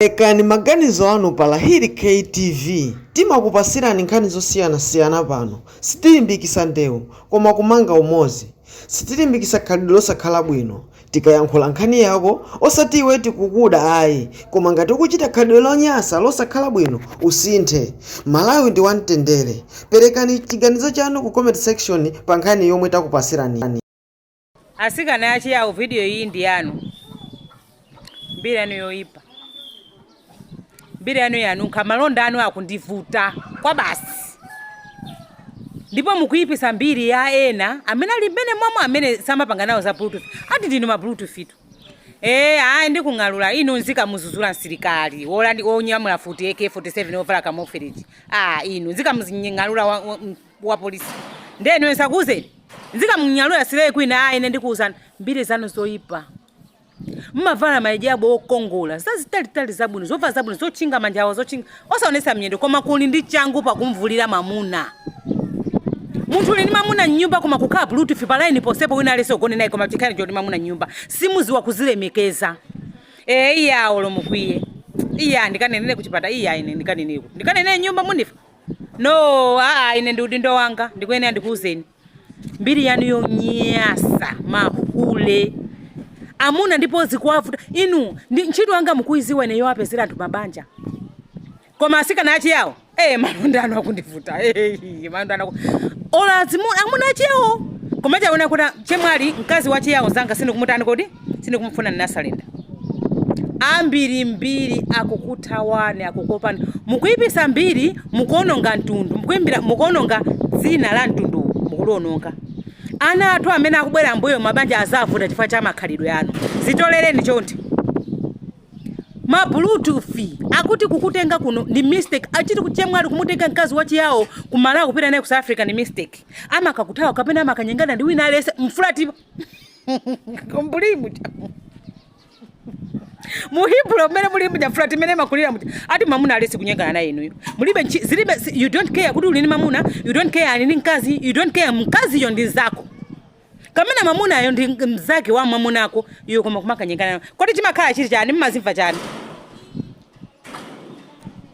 Perekani maganizo anu pa Lahiri K TV timakupasirani nkhani zosiyanasiyana pano sitilimbikisa ndewu koma kumanga umozi sitilimbikisa khalidwe losakhala bwino tikayankhula nkhani yako osati iwe tikukuda ayi koma ngati ukuchita khalidwe lonyasa losakhala bwino usinthe Malawi ndi wamtendere perekani chiganizo chanu ku comment section pa nkhani yomwe takupasirani. Asikana a Chiyao, video iyi ndi yanu. Mbiri yanu yoipa. Mbiri yanu yanunkha, malonda anu akundivuta kwabasi. Ndipo mukuyipisa mbiri ya ena amene ali mmenemo mwe amene samapanga nawo za Bluetooth. Ati ndinu ma Bluetooth tu. Eh, ayi ndikung'alula inu n'zikamuzuzula msilikali wolandi wonyamula futi AK47 wovala camouflage. Ah, inu n'zikamung'alula wa- wa- wa police ndiye inuyo osakuuzani n'zikamung'alula slay queen ayi ine ndikuuzani mbiri zanu zoyipa mmavala mahijabu okongola zazitalitali zabwino zovala zabwino zotchinga manja ao zotchinga osaonesa miyendo koma kuli ndi changu pakumuvulira mamuna munthu uli ndi mamuna mnyumba koma kukhala bluetooth pa line ponsepo wina aliyense ugone naye koma chikhala choti mamuna mnyumba simuziwa kuzilemekeza ee iya olo mukwiye iya ndikanenere kuchipata iya ine ndikanene ku ndikanenere nyumba munifa no aa ine ndi udindo wanga ndikuyenera ndikuwuzeni mbiri yanu yonyasa mahule amuna ndipo zikuwavuta inu ndi ntchito yanga mukuyiziwa ine yowapezera anthu mabanja koma asikana achiyawo eh malonda anu akundivuta eh malonda anu aku- olo azimu amuna achiyawo koma chonde kuti chemwali mkazi wachiyawo zanga sindikumutani kodi Sindikumufuna n'nasala ine. Ambirimbiri akukuthawani, akukuopani. Mukuipisa mbiri, mukuononga mtundu, mukuimbira, mukuononga dzina la mtunduwu, mukuliononga. Ana athu amene akubwera m'mbuyo mabanja azavuta chifukwa cha makhalidwe anu. Zitolereni chonde. Ma Bluetooth akuti kukutenga kuno ndi mistake. Achiti chemwali kumutenga mkazi wa chiyao ku Malawi kupita naye ku South Africa ndi mistake. Amakakuthawa kapena amakanyengana ndi wina aliyense m'flatimo. muli muja mu Hillbrow mmene muli muja flat imene mumakhalira muja ati mamuna aliyense kunyengana naye inuyo mulibe nchi- zilibe si- you don't care kuti uli ni mamuna you don't care ali ni mkazi you don't care mkaziyo ndi nzako kapena mamunayo ndi mzake wa mamuna wako iwe koma kumakanyengana naye. kodi chimakhala chili chani mmazimva chani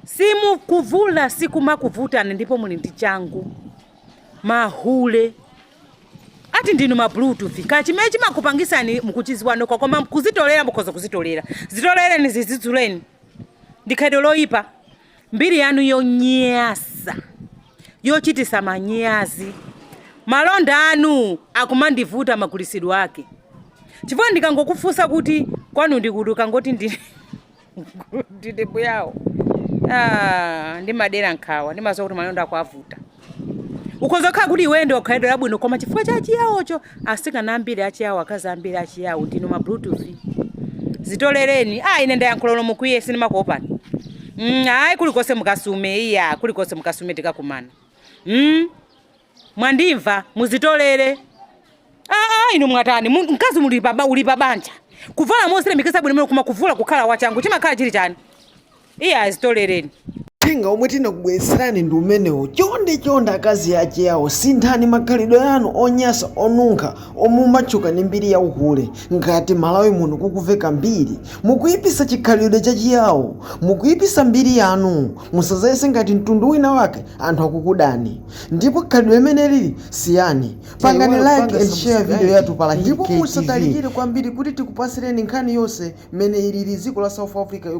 simukuvula sikumakuvutani ndipo muli ndi changu mahule ati ndinu ma bluetooth kaya chimene chimakupangisani mukuchiziwa nokha koma kuzitolera mukhoza kuzitolera zitolereni zizidzuleni ndi khalidwe loyipa mbiri yanu yonyasa yochitisa manyazi malonda anu akumandivuta magulisidwe ake chifukwa ndikangokufunsa kuti kwanu ndi kuti ukangoti ndi kuti ndi mbuyawo Ah, ndimadera nkhawa ndimaziwa kuti malonda akuavuta ukhoza kukhala kuti iweyo ndi wa khalidwe labwino koma chifukwa cha chiyawocho asikana ambiri achiyawo akazi ambiri achiyawo ndinu ma bluetooth zitolereni ah ine ndayankhula ulo mukwiye sindimakuopani mm, ayi kulikonse mukasume iya kulikonse mukasume tikakumana mm. mwandimva muzitolere aa inu mwatani Mu- mkazi muli pa ba- uli pa banja kuvala mosiremekesa bwino mene koma kuvula kukhala wachangu chimakhala chili chani iye azitolereni uthenga omwe tinakubweretserani ndi umenewo chonde chonde akazi achiyawo sinthani makhalidwe anu onyasa onunkha omwe mumatchuka ndi mbiri ya uhule ngati malawi muno kukuveka mbiri mukuyipisa chikhalidwe chachiyawo mukuyipisa mbiri yanu musazayese ngati mtundu wina wake anthu akukudani Ndipo khalidwe limeneli lisiyeni. Pangani like and share video yathu pa Lahiri KTV. Ndipo musatalikire kwambiri kuti tikupatsireni nkhani yonse mmene ilili dziko la South Africa.